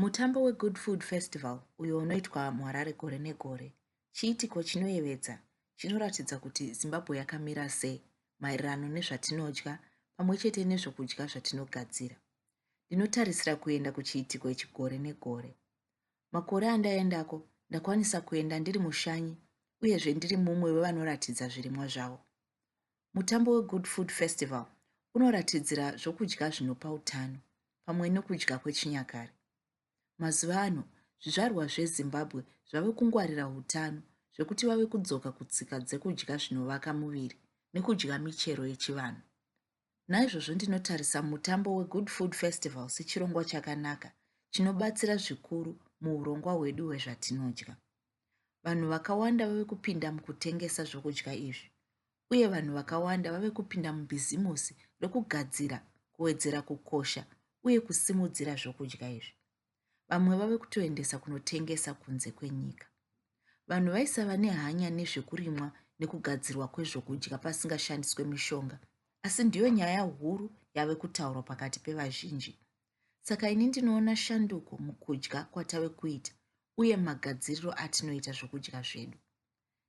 Mutambo weGood Food Festival uyo unoitwa muHarare gore negore chiitiko chinoyevedza chinoratidza kuti Zimbabwe yakamira sei maererano nezvatinodya pamwe chete nezvokudya zvatinogadzira. Ndinotarisira kuenda kuchiitiko ichi gore negore. Makore andaendako ndakwanisa kuenda ndiri mushanyi uyezve ndiri mumwe wevanoratidza zvirimwa zvavo. Mutambo weGood Food Festival unoratidzira zvokudya zvinopa utano pamwe nokudya kwechinyakare. Mazuva ano, zvizvarwa zveZimbabwe zvave kungwarira utano zvekuti vave kudzoka kutsika dzekudya zvinovaka muviri nekudya michero yechivanhu. Naizvozvo ndinotarisa mutambo weGood Food Festival sechirongwa chakanaka chinobatsira zvikuru muurongwa hwedu hwezvatinodya. vanhu vakawanda vave kupinda mukutengesa zvokudya izvi uye vanhu vakawanda vave kupinda mubhizimusi rokugadzira kuwedzera kukosha uye kusimudzira zvokudya izvi vamwe vave kutoendesa kunotengesa kunze kwenyika vanhu vaisava nehanya nezvekurimwa nekugadzirwa kwezvokudya pasingashandiswe mishonga asi ndiyo nyaya huru yave kutaurwa pakati pevazhinji Saka ini ndinoona shanduko mukudya kwatave kuita uye magadziriro atinoita zvokudya zvedu.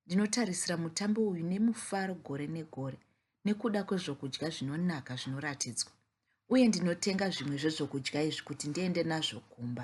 Ndinotarisira mutambo uyu nemufaro gore negore nekuda kwezvokudya zvinonaka zvinoratidzwa, uye ndinotenga zvimwe zvezvokudya izvi kuti ndiende nazvo kumba.